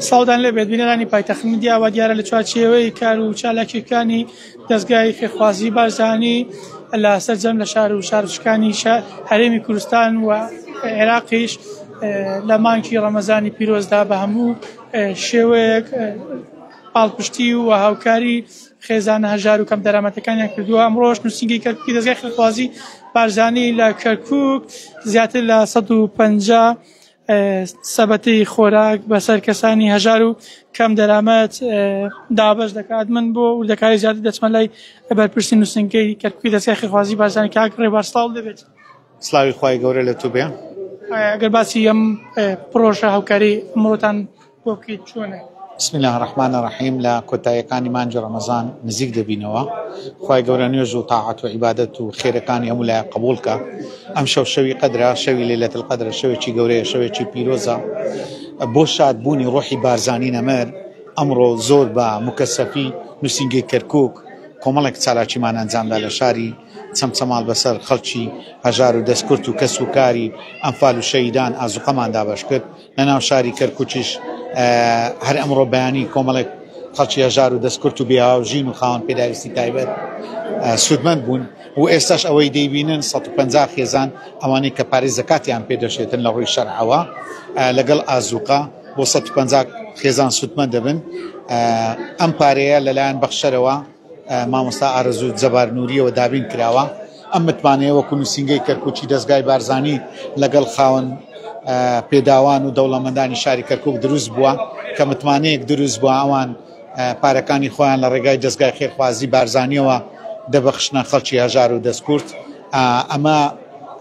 ساودان لەبێت بینەرانی پایتەخت میدیا و دیارە لە چوارچێوەی کار و چالاکیەکانی دەستگای فێخوازی بارزانی لە سەرجەم لە شار و شارچکانی هەرێمی کوردستان و عێراقیش لە مانکی ڕەمەزانی پیرۆزدا بە هەموو شێوەیەک پاڵپشتی و هاوکاری خێزانە هەژار و کەم دەرامەتەکانیان کردووە ئەمڕۆژ نووسنگی کەرکی دەستگای خێخوازی بارزانی لە کەرکک زیاتر لە 150 سەبەتی خۆراک بەسەر کەسانی هەژار و کەم دەرامەت دابش دەکات من بۆ وردەکاری زیاتر دەچمە لای بەرپرسی نووسنگەی کەرکوی دەستگای خێخوازی بارزانانی کاک ڕێبار سڵاو دەبێت سلاوی خی گەورە لە تو بێ ئەگەر باسی ئەم پرۆژە هاوکاری ئەمڕۆتان کۆکیت چۆنە؟ بسم اللە الرحمن الرحیم لە کۆتاییەکانی مانگی ڕەمەزان نزیک دەبینەوە خوای گەورە نوێژ و تاعەت و عیبادەت و خێرەکانی هەموو لایە قبول کە ئەم شەو شەوی قەدرە شەوی لەلەت القەدرە شەوێکی گەورەیە شەوێکی پیرۆزە بۆ شاد بوونی ڕۆحی بارزانی نەمر ئەمڕۆ زۆر بە مکەسەفی نووسینگەی کەرکک کۆمەڵێک چالاکیمان ئەنجامدا لە شاری چەمچەماڵ بەسەر خەڵکی هەژار و دەستکرد و کەس و کاری ئەمفال و شەیدان ئازوقەمان دابش کرد لە ناو شاری کەرکوکیش هەر ئەمڕۆ بەیانی کۆمەڵێک خەڵکی هەژار و دەستکرد و بێهاو ژین و خاوەن پێداویستی تایبەت سوودمەند بوون و ئێستاش ئەوەی دەیبینن 150 خێزان ئەوانەی کە پارێز زکاتیان پێدەشێتن لە ڕووی شەرعەوە لەگەڵ ئازوقە بۆ 150 خێزان سوودمەند دەبن ئەم پارەیە لەلایەن بەخشەرەوە مامۆستا ئارەزوو جەبار نوریەوە دابین کراوە، ئەم متمانەیە وەکو نووسینگەی کەرکوکی دەزگای بارزانی لەگەڵ خاوەن پێداوان و دەوڵەمەندانی شاری کەرکوک دروست بووە، کە متمانەیەک دروست بووە ئەوان پارەکانی خۆیان لە ڕێگای دەزگای خێرخوازی بارزانیەوە دەبەخشنە خەڵکی هەژار و دەستکورد ئەمە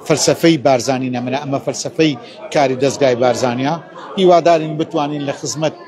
فەلسفەی بارزانی نەمرە ئەمە فەلسفەی کاری دەزگای بارزانیا هیوادارین بتوانین لە خزمەت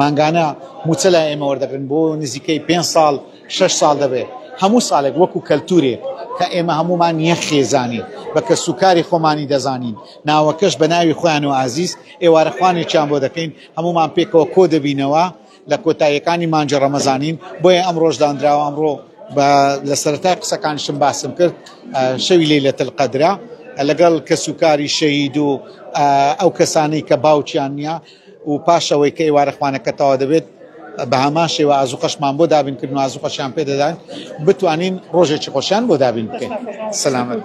مانگانە مووچە لای ئێمە وەردەگرن بۆ نزیکەی پێنج ساڵ شەش ساڵ دەبێت هەموو ساڵێک وەکو کەلتورێک کە ئێمە هەموومان یەک خێزانین بە کەسوکاری خۆمانی دەزانین ناوەکەش بە ناوی خۆیان و ئازیز ئێوارە خوانێکیان بۆ دەکەین هەموومان پێکەوە کۆ دەبینەوە لە کۆتاییەکانی مانجە ڕەمەزانین بۆیە ئەم ڕۆژداندراوە ئەمڕۆ بە لە سەرەتای قسەکانشم باسم کرد شەوی لەی لە تلقەدرا لەگەڵ کەسوکاری شەید و ئەو کەسانەی کە باوکیان نیە و پاش ئەوەی کە ئێوارە خوانەکە تەوا دەبێت بە هەمان شێوە ئازوقەشمان بۆ دابین کردن و ئازوقەشیان پێدەدان بتوانین ڕۆژێکی خۆشیان بۆ دابین بکەین سەلامەت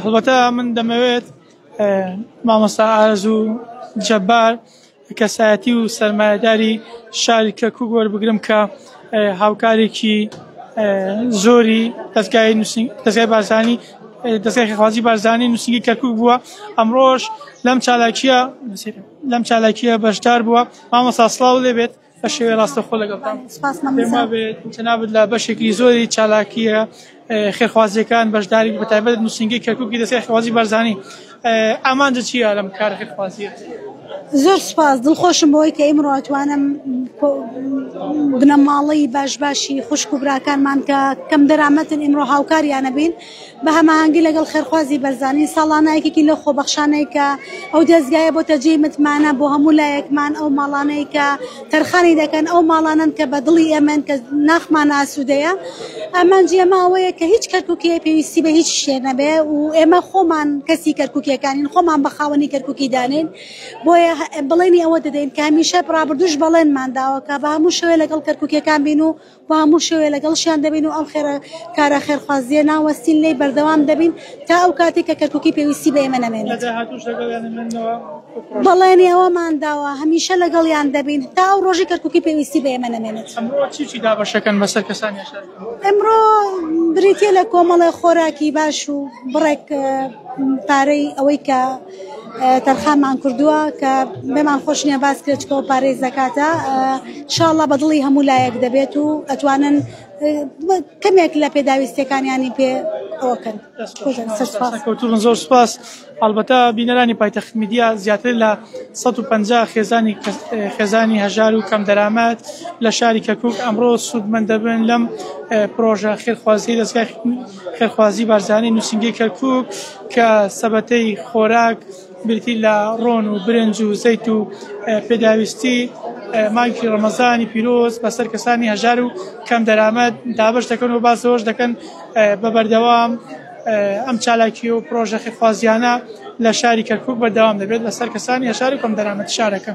هەڵبەتە من دەمەوێت مامۆستا ئارز و جەبار کەسایەتی و سەرمایهداری شاری کەکوک وەربگرم کە هاوکارێکی زۆری دەستگای بازانی دەستگای خێرخوازی بارزانی نووسینگەی کەرکوک بووە ئەمڕۆش لەم چالاکیە لەم چالاکیە بەشدار بووە مامۆستا سڵاو لێ بێت بە شێوێ ڕاستەخۆ لەگەڵتان جنابت لە بەشێکی زۆری چالاکیە خێرخوازیەکان بەشداری بە تایبەت نووسینگەی کەرکوکی دەستگای خێرخوازی بارزانی ئامانجت چیە لەم کارەکەت خوازیت؟ زۆر سوپاس دڵخۆشم بەوەی کە ئیمڕۆ ئەتوانم بنەماڵەی باش باشی خوشک و براکانمان کە کەم دەرامەتن ئیمڕۆ هاوکاریانە بین بە هەماهنگگی لەگەڵ خێرخوازی بەرزانی ساڵانایەکێکی لە خۆبەخشانەی کە ئەو دەستگایە بۆ تەجێی متمانە بۆ هەموو لایەکمان ئەو ماڵانەی کە تەرخانی دەکەن، ئەو ماڵانەن کە بە دڵی ئێمەن، کە ناخمان ئاسوودەیە، ئامانجی ئێمە ئەوەیە کە هیچ کەرکووکییەک پێویستی بە هیچ شتێ نەبێ و ئێمە خۆمان کەسی کەرکووکییەکانین، خۆمان بە خاوەنی کەرکووکی دانێین، بۆیە بەڵێنی ئەوە دەدەین کە هەمیشە، ڕابردووش بەڵێنمان داوە کە بە هەموو شێوەیەک لەگەڵ کەرکووکییەکان بین و و هەموو شەوێ لەگەڵشیان دەبین و ئەم خێرە کارە خێرخوازییە ناوەستین لێی بەردەوام دەبین تا ئەو کاتێک کە کەرکوکی پێویستی بە ئێمە نەمێنێت. لە داهاتووش لەگەڵیان دەمێننەوە بۆ پرۆژەکان؟ بەڵێنی ئەوەمان داوە هەمیشە لەگەڵیان دەبین تا ئەو ڕۆژەی کەرکوکی پێویستی بە ئێمە نەمێنێت. ئەمڕۆ چی چی دابەشەکەن بەسەر کەسانی عەشایەردا؟ ئەمڕۆ بریتییە لە کۆمەڵێ خۆراکی باش و بڕێک پارەی ئەوەی کە. تەرخانمان کردووە کە بێمان خۆش نیە باس کرێت چکەوە پارەی زەکاتە شاڵە بەدڵی هەموو لایەک دەبێت و ئەتوانن کەمێک لە پێداویستەکانیانی پێ ئەوکەن کەوتون زۆر سپاس هەڵبەتە بینەرانی پایتەخت میدیا زیاتر لە 150 خێزانی خێزانی هەژار و کەم دەرامەت لە شاری کەکوک ئەمڕۆ سوودمەند دەبن لەم پرۆژە خێرخوازی دەستگای خێرخوازی بارزانی نووسینگەی کەرکووک کە سەبەتەی خۆراک بریتی لە ڕۆن و برنج و زەیت و پێداویستی مانگی ڕەمەزانی پیرۆز بەسەر کەسانی هەژار و کەم دەرامەت دابش دەکەن و باسەوەش دەکەن بە بەردەوام ئەم چالاکی و پرۆژە خێرخوازیانە لە شاری کەرکووک بەردەوام دەبێت لەسەر کەسانی هەژار و کەم دەرامەت شارەکە.